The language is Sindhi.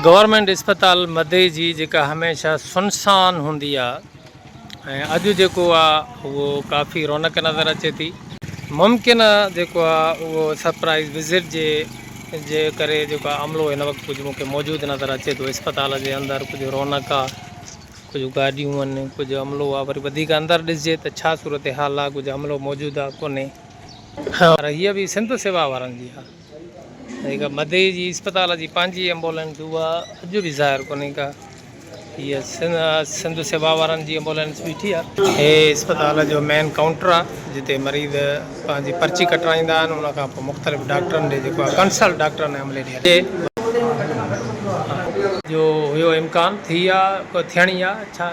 گورنمينٽ اسپتال مدئي جي جيڪا هميشه سنسان هوندي آ ۽ اڄ جيڪو آ اهو ڪافي رونق نظر اچي ٿي ممڪن آ جيڪو آ اهو سرپرائز وزٽ جي جي ڪري جيڪو عملو هن وقت ڪجهه مونکي موجود نظر اچي ٿو اسپتال جي اندر ڪجهه رونق آ ڪجهه گاڏيون آهن ڪجهه عملو آ وري وڌيڪ اندر ڏسجي ته ڇا صورتحال آ ڪجهه عملو موجود آ ڪونهي پر هيء به سنڌ سيوا وارن جي آ. جيڪا مدي جي اسپتال جي پنهنجي ايمبولينس هئي اها اڄ به ظاهر ڪونهي ڪا هيء سنڌ سيوا وارن جي ايمبولينس بيٺي آهي. هي اسپتال جو مين ڪائونٽر آهي جتي مريض پنهنجي پرچي ڪٽرائيندا آهن ان کان پوء مختلف ڊاڪٽرن ڏي جيڪو آهي ڪنسلٽ ڊاڪٽرن ۽ عملي ڏي جو هيو امڪان ٿي آهي ڪو ٿيڻي آهي ڇا.